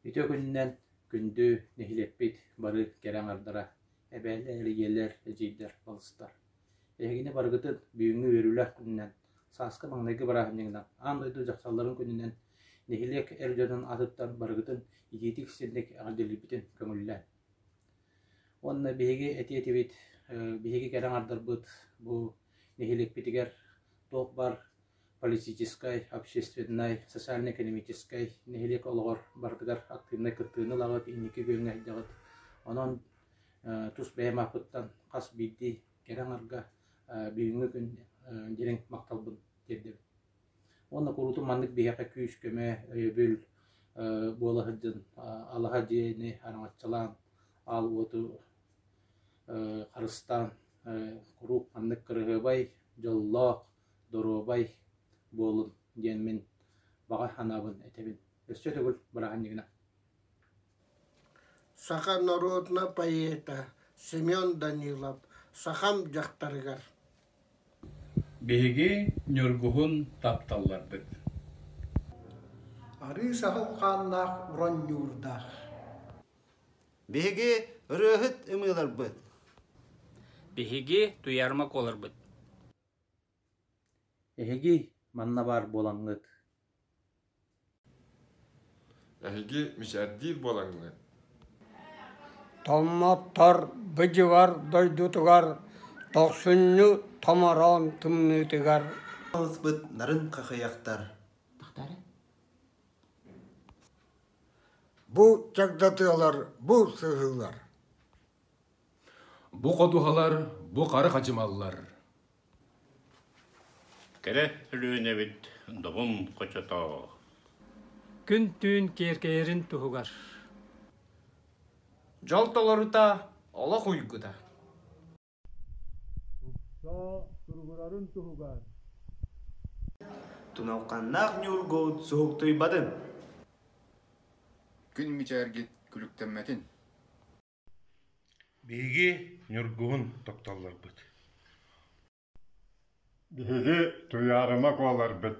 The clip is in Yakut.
Ити күнүнэн күндү нэһилиэкпит бары кэрэ аҥардара, эбээлэр, ийэлэр, эдьиийдэр, балыстар. Эһигини барыгытын бүгүҥҥү үөрүүлэр күнүнэн, сааскы маҥнайгы бырааһынньыгынан, аан дойду дьахталларын күнүнэн нэһилиэк эр дьонун атыттан барыгытын итиитик ситинник эҕэрдэлиирбитин көҥүллээн. Уонна биһиги этиэтибит, биһиги кэрэ аҥардарбыт бу нэһилиэкпитигэр туох баар политическай, общественнай, социально-экономическай нэһилиэк олоҕор барытыгар актыыбынай кыттыыны ылаҕыт, инники күөҥҥэ айдаҕыт. Онон тус бэйэм ааппыттан хас биирдии кэрэ аҥарга бүгүҥҥү күн дириҥ махталбын тиэрдэбин Уонна куруутун маннык биһиэхэ күүс-көмө, өйөбүл буола сылдьан алаһа дьиэни араҥаччылаан, аал уоту харыстаан куруук маннык кыраһыабай, дьоллоох, доруобай буолун диэн мин баҕа санаабын этэбин. Өссө төгүл бырааһынньыгынан Саха норуотуна поэта Семен Данилов сахам дьахтарыгар Биһиги Ньургуһун тапталларбыт Арыы саһыл хааннаах оронньуурдаах Биһиги ырыаһыт ымыыларбыт Биһиги туйарма куоларбыт Эһиги манна баар буолаҥҥыт Эһиги мичээрдиир буолаҥҥыт Томмоттор быдьыгар дойдутугар Тохсунньу томороон тымныытыгар Алыспыт нарын хахыйахтар Бу чагдатыалар, бу сыһыылар Бу ходуһалар бу хары хадьымаллар Кэрэ Өлүөнэбит добум хочотоо Күн-түүн киэркэйэрин туһугар Дьол толорута олох уйгута Тупсоо туругурарын туһугар Туналханнаах Ньургу суһуктуйбатын Күн мичээргит күлүктэммэтин Биһиги Ньургубун тапталларбыт Биһиги Туйаарыма куоларбыт